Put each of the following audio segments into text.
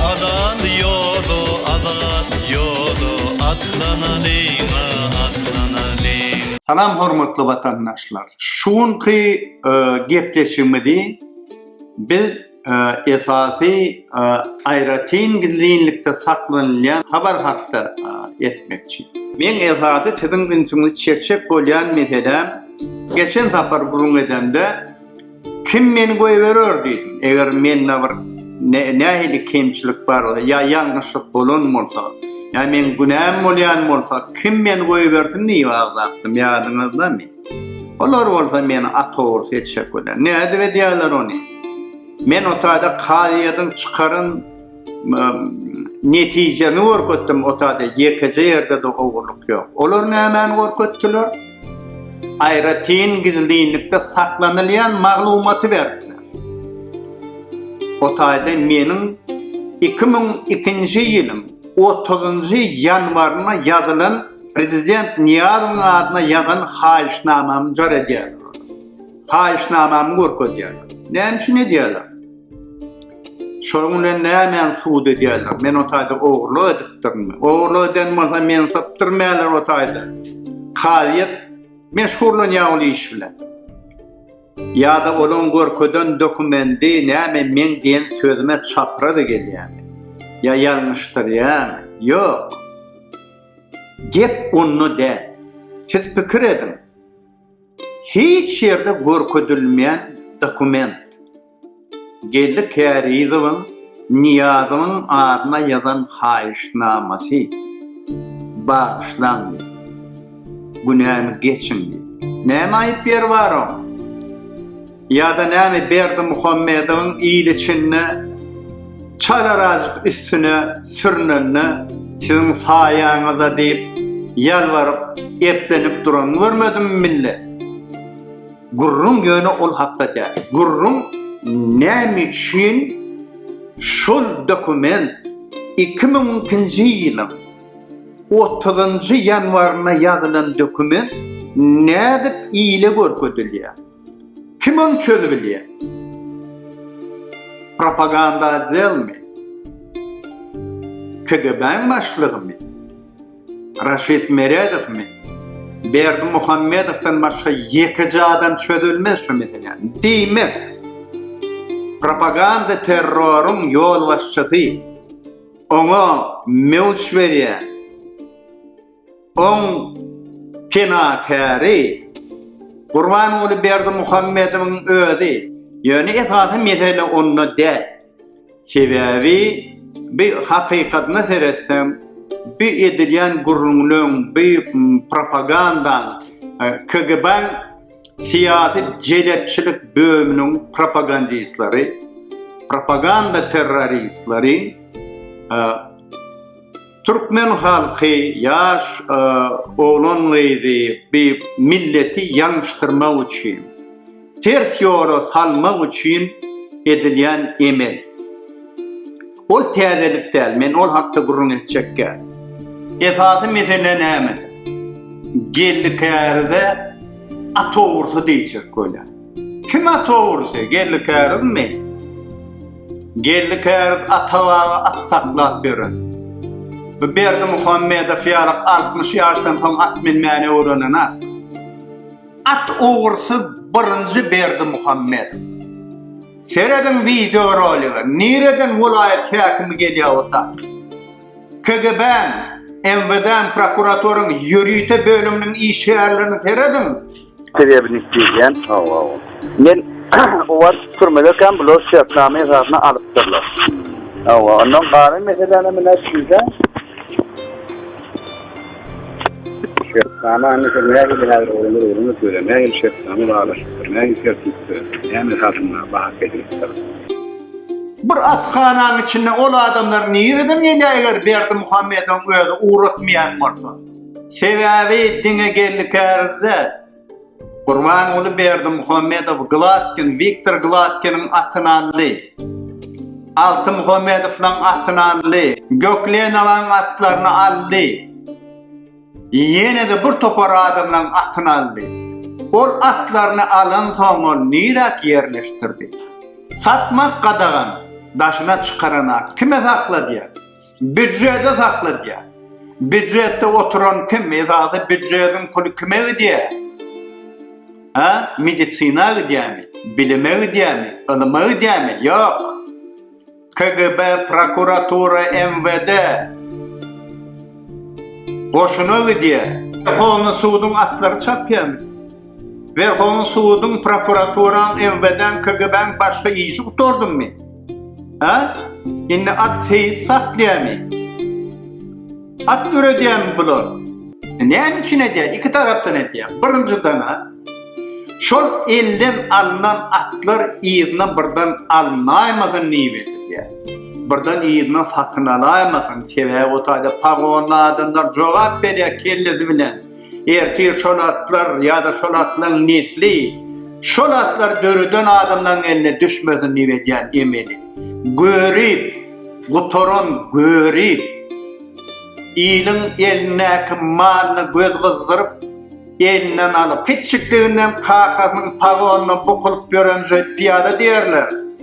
Azat ýoly, azat ýoly, Atlanalyň-a, atlanalyň. Salam hormatly watandaşlar. Şu günki gepleşigimizi biz. esasy aýratyn gizlinlikde saklanylýan habar hakda etmekçi. Men esasy siziň ünsüňizi çekjek bolýan mesele geçen sapar gürrüň edemde kim meni goýberer diýdim. Eger mende bir nähili kemçilik bar ýa ýalňyşlyk bolan bolsa, ýa men günäm bolýan bolsa kim meni goýbersin diýip agzapdym ýadyňyzdamy? Olar bolsa meni atawul seçjek biler. Nädip edýärler ony? Men o taýda kazyýetiň çykaran netijemi görkezdim o taýda ýekeje ýerde de ogurlyk ýok. Olar nämäni görkezdiler? Aýratyn gizlinlikde saklanylýan maglumaty berdiler. O taýda meniň 2002-nji ýylyň 30-njy ýanwaryna ýazylan Prezident Nyýazowyň adyna ýazan haýyşnamamy jar edýärler. Haýyşnamamy görkezýärler. Näme üçin edýärler? Şonuň bilen nämäni subut edýärler? Men o taýda ogurlyk edipdirmi? Ogurlyk eden bolsa meni sypdyrmaýarlar o taýda. Kazyýet meşgurlanýar ol iş bilen. Ýa-da olaň görkezen dokumendi näme meň diýen sözüme çapraz gelýärmi? Ýa ýalňyşdyrýarmy? Ýok. Gep onda däl. Siz pikir ediň. Hiç ýerde görkezilmeýän dokument. Geldi Kärizowyň Nyýazowyň adyna ýazan haýyşnamasy. Bagyşlaň diýip. Günämi geçiň diýip. Näme aýyp ýeri bar oň? Ýa-da näme Berdimuhamedowyň il içinde çalarajyk üstüne sürünende siziň saýaňyza diýip ýalbaryp, eplenip duranyny görmedimi millet? Gürrüň ýöne ol hakda däl. Gürrüň näme üçin şol dokument iki müň ikinji ýylyň otuzynjy ýanwarynda ýazylan dokument nädip ile görkezilýär? Kim ony çözübilýär? Propaganda ajelmi? KGB-niň başlygymy? Raşid Meredowmy? Berdi Muhammedowdan başga ýekeje adam çözülmez şu meseläni. Diýmek, propaganda terroryň ýolbaşçysy, oňa mewç berýän, Oň penakäri Gurbanguly Berdimuhamedowyň özi. Ýöne esasy mesele onda däl. Sebäbi bu hakykatyna seretseň, bu edilýän gürrüňleň, bu propagandaň, KGB-niň syýasy jelepçilik bölüminiň propagandistleri, propaganda terroristleri, Türkmen halky ýaş oglan-gyzy bi milleti ýalňyşdyrmak üçin, ters ýola salmak üçin edilýän emel. Ol täzelik däl, men ol hakda gürrüň etjekkä. Esasy mesele nämede? Geldi-kärde at ogrusy diýjek bolýar. Kim ata ogurysy? Geldi kärizmi? Geldi käriz Atabaga at saklap beren. Bu Berdi Muhammedow ýaly 60 ýaşdan soň at minmäni öwrenen at. At ogurysy birinji Berdi Muhammedow. Serediň wideo rolige. Nireden welaýat häkimi gelýär o da? KGB-niň, MWD-niň, prokuraturyň ýörite bölüminiň işgärlerini serediň. Sebäbini isleýän. Hawa, hawa. Men o wagt türmede kan blo şertnama esasyna alypdyrlar. Hawa, ondan gara meselene mine şeýle. Şertnama indi sen näme bilen aýryp olar öwreniň söýle. Näme şertnama baglaşypdyr. Näme tertipde. Näme esasynda bahas edilipdir. Bir athanaň içinde ol adamlar nireden gelýär eger Berdimuhamedowyň özi ugratmaýan bolsa. Sebäbi diňe geldi kärizde Gurbanguly Berdimuhamedow Glatkin, Wiktor Glatkiniň atyny aldy. Alty Muhamedowlaň atyny aldy. Göklenowaň atlaryny aldy. Ýene-de bir topar adamlaň atyny aldy. Ol atlaryny alansoň ol niräk ýerleşdirdi? Satmak gadagan, daşyna çykaran at kime sakladýar? Büdjeti sakladýar. Büdjetde oturan kim? Esasy büdjetiň puly kime gidýär? Ha? Medisina gidýärmi? Bilime gidýärmi? Ylyma gidýärmi? Ýok. KGB, prokuratura, MWD goşuna gidýär. Werhowny suduň atlary çapýarmy? Werhowny suduň, prokuraturan, MWD-n, KGB-n başga işi gutardymy? Hä? Indi at seýis saklaýamy? At döredýämi bular? Näme üçin edýär? Iki tarapdan edýär. Birinjiden, şol elden alnan atlar yzyna birden alynaymasyn niýip edilýär. Birden yzyna satyn alaýmasyn. Sebäbi o taýda pagonly adamlar jogap berýär kellesi bilen. Ertir şol atlar ýa-da şol atlaryň nesli, şol atlary döreden adamlaryň eline düşmesin diýip edýän emeli. Görip, gutaran görip, iliň elindäki malyny göz gyzdyryp, elinden alyp, kiçjikliginden kakasynyň pagonyndan bukulyp ýören şeýt pyýada diýerler.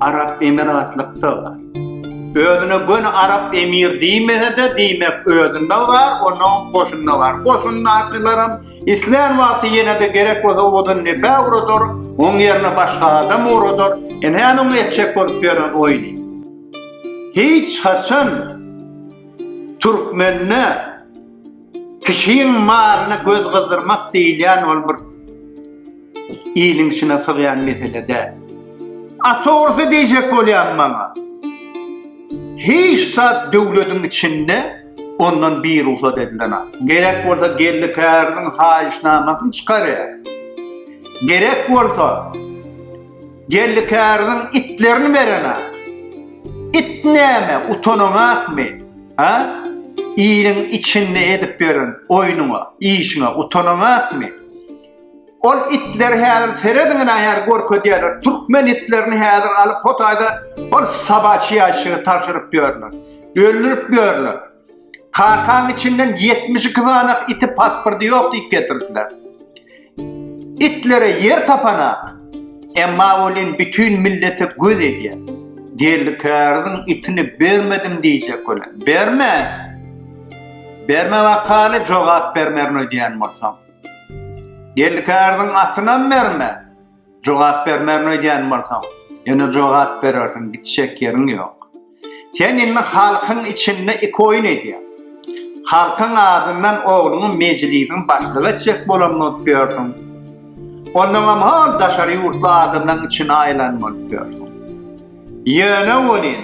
Arap emiratlykda bar. Özüne göni arap emir diýmese-de, diýmek özünde bar, onuň goşunda bar. Goşundakylaram islän wagty ýene-de gerek bolsa odan nepe uradar, oň ýerine başga adam uradar. Ine onuň etjek bolup ýören oýny. Hiç haçan türkmende Kişiň malyna göz gyzdyrmak diýilýän ol bir iliň içine sygýan mesele däl. A togrusy diýjek bolýan maňa, hiç zat döwletiň içinde ondan birugsat edilen ak. Gerek bolsa geldi käriniň haýyşnamasyny çykarýar. Gerek bolsa geldi käriniň itlerini beren ak. It näme, utanaňakmy? A? Iliň içinde edip ýören oýnuňa, işiňe utanaňakmy? Ol itler häzir serediň nähär görkezýärler. Türkmen itlerini häzir alyp hotaýda ol sabaçy ýaşyga tabşyryp ýörler. Öldürip ýörler. Kakaň içinden 72 sany iti pasporty ýok diýip getirdiler. Itlere ýer tapana. Emma welin bütin millete göz edýär. Geldi käriziň itini bermedim diýjek welin, bermen! Berme bakaly jogap bermerin öýdýän bolsaň. Geldi käriziň atynam berme. Jogap bermegini öýdýän bolsaň, ýöne jogap berersiň, gitjek ýeriň ýok. Sen indi halkyň içinde iki oýun edýäň. Halkyň adyndan ogluňy mejlisiň başlygy etjek bolan bolup ýörsüň. Ondaňam hol daşary ýurtly adamlaryň içine aýylan bolup ýörsüň. Ýöne welin,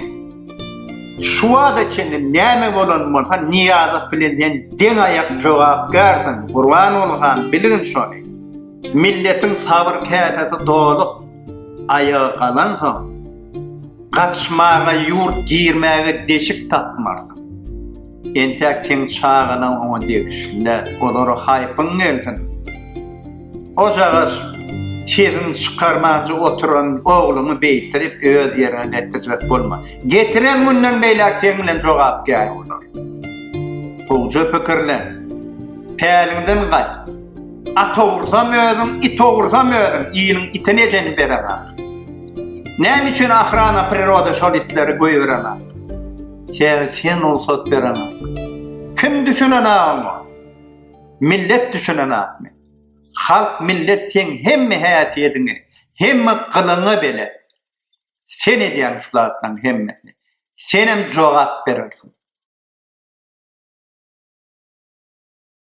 şu wagta çenli näme bolan bolsa, Nyýazow bilen sen deň aýak jogapkärsiň, Gurbanguly han, bilgin şony. Milletiň sabyr käsesi dolup, aýaga galansoň, gaçmaga, ýurt girmäge deşik tapmarsyň. Entäk seň çagalaň oňa degişli-le, olary haýpyň gelsin. Ojagaş, sesiňi çykarmanja oturan ogluňy beýtirip, öz ýerine getirjek bolma. Getiren günden beýläk seň bilen jogapkär bolar. Gowja pikirlen. Päliňden gaýt. At ogrursam özüň, it ogrursam özüň, iliň itini ejeni bereňok. Näme üçin Ahrana priroda şol itleri goýbereňok? Sen sen rugsat bereňok. Kim düşünen agam? Millet düşünen agmy? Halk millet sen hemme häsiýediňi, hemme gylyňy bile. Sen edýän şu zatlaryň hemmesini. Senem jogap berersiň.